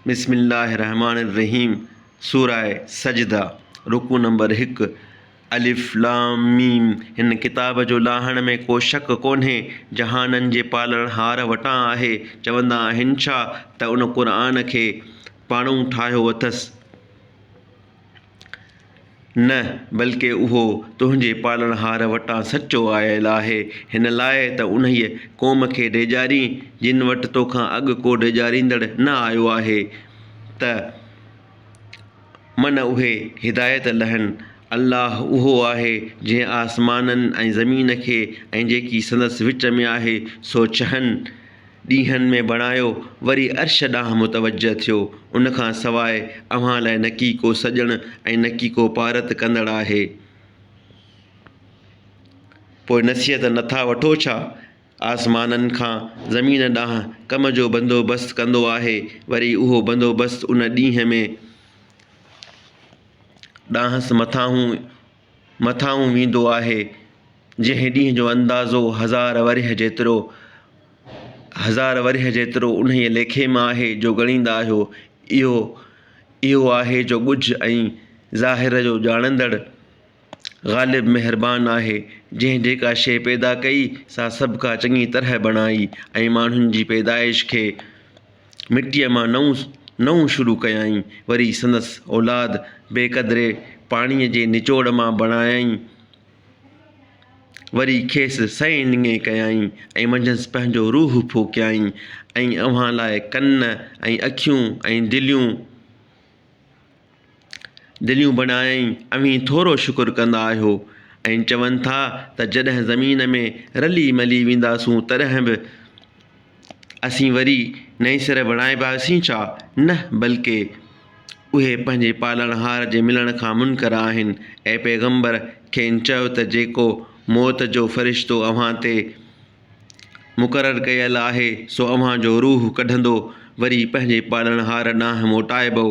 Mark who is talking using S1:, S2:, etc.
S1: بسم الله الرحمٰن الرحيم سورة سجده رڪوع نمبر هڪ، الف لام ميم هن ڪتاب جو لاهڻ ۾ ڪو شڪ ڪونهي جهانن جي پالڻهار وٽان آهي چوندا آهن ڇا ته ان قرآن کي پاڻئون ٺاهيو اٿس. نه، بلڪ اهو تنهنجي پالڻهار وٽان سچو آيل آهي، هن لاء ته انهيء قوم کي ڊيڄارين، جن وٽ توکان اڳ ڪو ڊيڄاريندڙ نه آيو آهي، ته من اهي هدايت لهن. الله اهو آهي، جنهن آسمانن ۽ زمين کي ۽ جيڪي سندس وچ ۾ آهي، سو چهن. ڏينهن ۾ بڻايو وري عرش ڏانهن متوجه ٿيو، ان کان سواء اوهان لاء نڪي ڪو سڄڻ ۽ نڪي ڪو پارت ڪندڙ آهي. پوء نصيحت نٿا وٺو ڇا؟ آسمانن کان زمين ڏانهن ڪم جو بندوبست ڪندو آهي، وري اهو بندوبست ان ڏينهن ۾، ڏانهس مٿانهون مٿانهون ويندو آهي، جنهن ڏينهن جو اندازو هزار ورهيه جيترو هزار ورهيه جيترو انهيء ليکي مان آهي، جو ڳڻيندا آهيو، اهو اهو آهي جو ڳجهه ۽ ظاهر جو ڄاڻندڙ، غالب مهربان آهي، جنهن جيڪا شيء پيدا ڪئي، سا سڀڪا چڱي طرح بڻائي ۽ ماڻهن جي پيدائش کي. مٽيء مان نئون نئون شروع ڪيائين، وري سندس اولاد بي قدري پاڻيء جي نچوڙ مان بڻايائين، وري کيس سئي نڱي ڪيائين ۽ منجهس پنهنجو روح ڦوڪيائين ۽ اوهان لاء ڪن ۽ اکيون ۽ دليون دليون بنائين اوهين ٿورو شڪر ڪندا آهيو ۽ چون ٿا ته جڏهن زمين ۾ رلي ملي وينداسون تڏهن به اسين وري نئين سر بڻائباسين ڇا؟ نه بلڪه اهي پنهنجي پالڻهار جي ملڻ کان منڪر آهن. اي پيغمبر! کين چئو ته جيڪو موت جو فرشتو اوهان تي مقرر ڪيل آهي، سو اوهان جو روح ڪڍندو، وري پنهنجي پالڻهار ڏانهن موٽائبؤ.